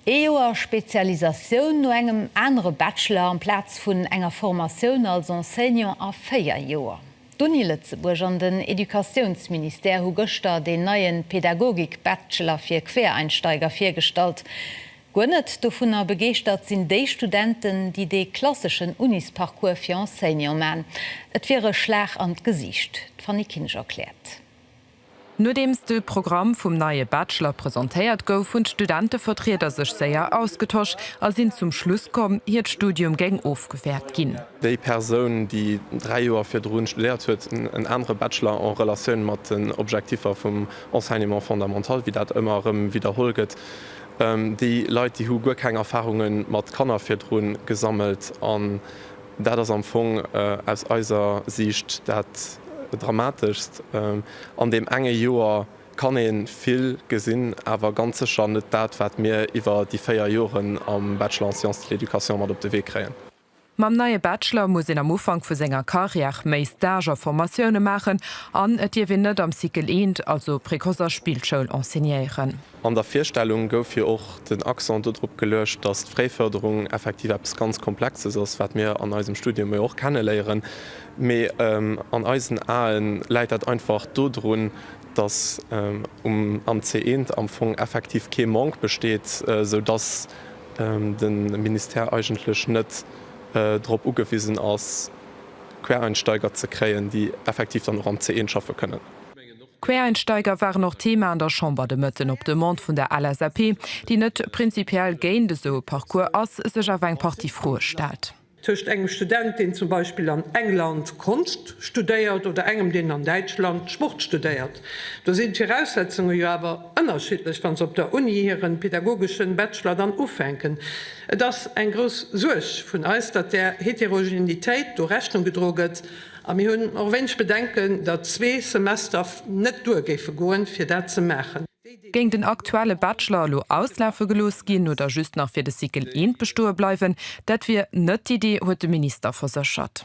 Ee Joer Spezialisatioun no engem anere Bachelor amplaz vun enger Formatioun als Enseignant a véier Joer. D'Uni Lëtzebuerg an den Educatiounsministère hu gëschter deen neie Pädagogik-Bachelor fir Quereinsteiger virgestallt. Guer net dovunner begeeschtert sinn déi Studenten, déi dee klasseschen Unisparcours fir Enseignant man. Et wier e Schlag an d'Gesiicht. D'Fanny Kinsch erkläert. Nodeems de Programm vum neie Bachelor presentéiert gouf, hunn d'Studentevertrieder sech séier ausgetosch a sinn zum Schluss komm, hiert Studium géing ofgewäert ginn. Déi Persoun, déi dräi Joer virdrun studéiert huet, en anere Bachelor en Relatioun mat den Objektiffer vum Enseignement fondamental, wéi dat ëmmer erëm widderholl gëtt. Déi Leit, déi hu guer keng Erfarunge mat Kanner virdrun gesammelt. Dat ass am Fong aus eiser Siicht dat Dramateschst an deem enge Joer. Kann ee vill gesinn, awer ganz sécher net dat, wat mir iwwer déi véier Joren am Bachelor en Sciences de l'Education mat op de Wee kréien. Mam neie Bachelor muss een am Ufank vu senger Carrière méi Stage a Formatioune maachen an et dierf een net am Cycle I, also Précoce a Spillschoul, enseignéieren. An der Virstellung gouf jo och den Accent dodrop geluecht, datt d'Fréifërderung effektiv eppes ganz Komplexes ass, wat mir an eisem Studium jo och kenneléieren, mee an eisen Ae läit dat einfach dodrun, datt am CE am Fong effektiv kee Manque besteet, esou datt de Ministère eigentlech net drop ugewisen ass, Quereinsteiger ze kréien, déi effektiv dann och am CE schaffe kënnen. D'Quereinsteiger waren och Thema an der Chamber de Mëtten. Op Demande vun der LSAP, déi net prinzipiell géint esou e Parcours ass, sech awer eng Partie Froe stellt. Tëscht engem Student, deen zum Beispill an England Konscht studéiert, oder engem, deen an Däitschland Sport studéiert, do sinn d'Viraussetzunge jo awer ënnerschiddlech, wa se op der Uni hiren pedagogeschen Bachelor dann ufänken. Et ass eng grouss Suerg vun eis, datt där Heterogenitéit do Rechnung gedroe gëtt. A mir hunn och wéineg Bedenken, datt zwee Semester net duer géife goen, fir dat ze maachen. Géing den aktuelle Bachelor elo auslafe gelooss ginn oder just nach fir de Cycle I bestoe bleiwen, dat wier net d'Iddi, huet de Minister verséchert.